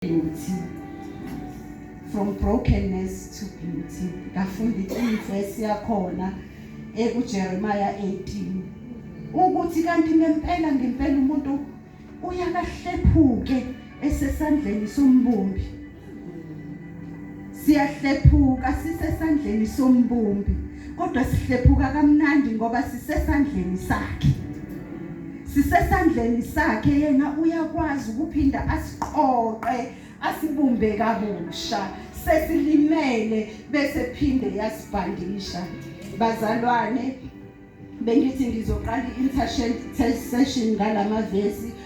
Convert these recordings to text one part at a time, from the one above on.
Beauty. From brokenness to beauty. Ngafunda iverse yakhona ekuJeremiah 18 ukuthi kanti ngempela ngempela umuntu uyakahlephuke esesandleni sombumbi. Siyahlephuka sisesandleni sombumbi. kodwa sihlephuka kamnandi ngoba sisesandleni sakhe sisesandleni sakhe yena uyakwazi ukuphinda asiqoqe asibumbe kabusha sesilimele bese phinde yasibhandisha bazalwane bengithi ngizoqala i-intercession session ngalamavesi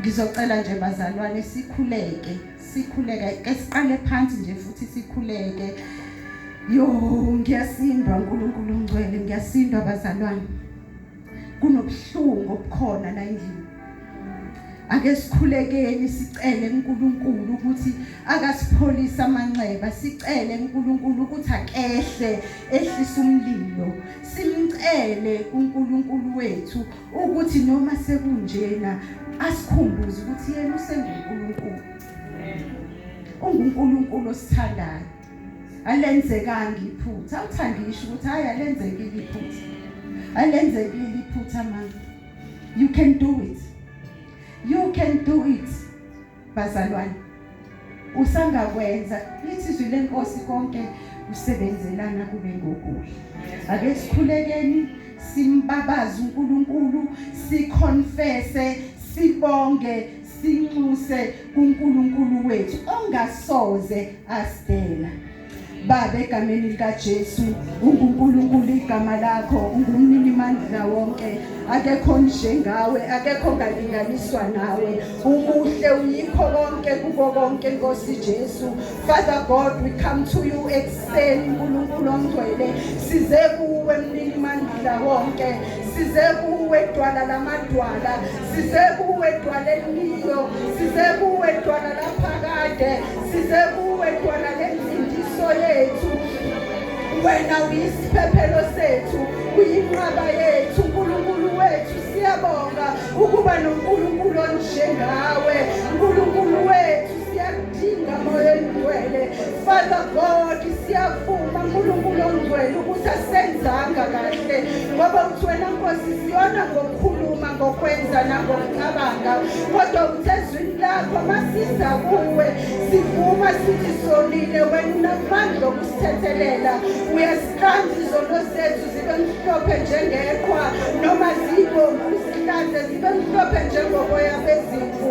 Ngizocela nje bazalwane sikhuleke, sikhuleke ke siqale phansi nje futhi sikhuleke. Yo, ngiyasindwa uNkulunkulu ongcwele, ngiyasindwa bazalwane. Kunobuhlungu obukhona la endlini. Ake sikhulekeni sicele uNkulunkulu ukuthi akasipholise amanxeba, sicele uNkulunkulu ukuthi akehle ehlisa umlilo. Simcele uNkulunkulu wethu ukuthi noma sekunjena asikhumbuze ukuthi yena usenguNkulunkulu unguNkulunkulu osithandayo alenzekanga iphutha awuthandi ngisho ukuthi hayi alenzekile iphutha alenzekile iphutha manje you can do it you can do it bazalwane usangakwenza lithi izwi lenkosi konke kusebenzelana kube ngokuhle ake sikhulekeni simbabaze uNkulunkulu siconfesse sibonge sinxuse kuNkulunkulu wethu ongasoze asdela Baba, egameni likaJesu, unguNkulunkulu igama lakho, ungumnini mandla wonke. Akekho njengawe, akekho ngalinganiswa nawe. Umuhle uyikho konke kuko konke Nkosi Jesu. Father God, we come to you ekuseni uNkulunkulu ongcwele. Size kuwe mnini mandla wonke. size kuwe dwala lamadwala size kuwe dwala elilo size kuwe dwala laphakade size kuwe dwala lenzindiso yethu wena uyisiphephelo sethu uyinqaba yethu unkulunkulu wethu siyabonga ukuba nonkulunkulu onjengawe nkulunkulu wethu Father God, siyavuma uNkulunkulu ongcwele ukuthi asenzanga kahle ngoba uthi wena Nkosi siyona ngokukhuluma ngokwenza nangokucabanga kodwa uthe ezwini lakho masiza kuwe sivuma sithi sonile wena unamandla okusithethelela uyasiqanda izono zethu zibe mhlophe njengeqhwa noma zibomvu zihlanze zibe mhlophe njengoboya bezimvu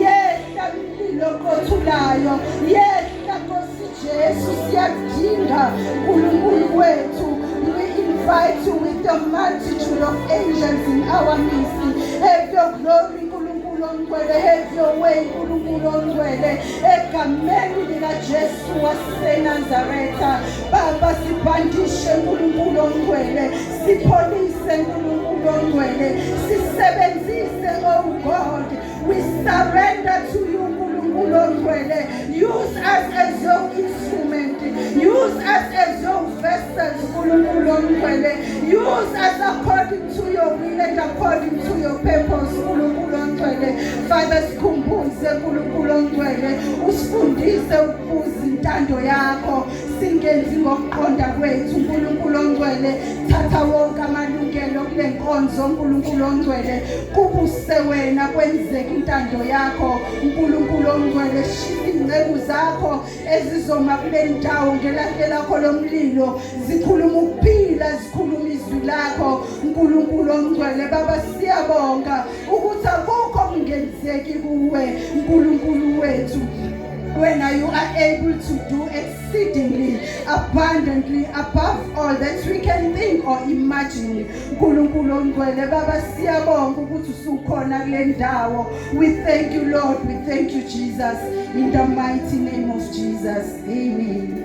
yehla mlilo oqothulayo yehla nkosi jesu siyakudinga nkulunkulu wethu we invite you with the multitude of angels in our midst have your glory nkulunkulu ongcwele have your way nkulunkulu ongcwele egameni likajesu wasenazaretha baba sibhandishe nkulunkulu ongcwele sipholise nkulunkulu ongcwele sisebenzise oh god We surrender to you Nkulunkulu ongcwele. Use us as your instrument. Use us as your vessels Nkulunkulu ongcwele. Use us according to your will and according to your purpose Nkulunkulu ongcwele. Father sikhumbuze Nkulunkulu ongcwele. Usifundise ukubuza intando yakho. singenzi ngokuqonda kwethu uNkulunkulu ongcwele thatha wonke amalungelo kule nkonzo uNkulunkulu ongcwele kubuse wena kwenzeke intando yakho uNkulunkulu ongcwele shisa ingceku zakho ezizoma kule ndawo ngelahle lakho lomlilo zikhuluma ukuphila zikhuluma izwi lakho uNkulunkulu ongcwele baba siyabonga ukuthi akukho kungenzeki kuwe uNkulunkulu wethu Wena you are able to do exceedingly abundantly above all that we can think or imagine nkulunkulu ongcwele baba siyabonga ukuthi usukhona kule ndawo we thank you lord we thank you jesus in the mighty name of jesus amen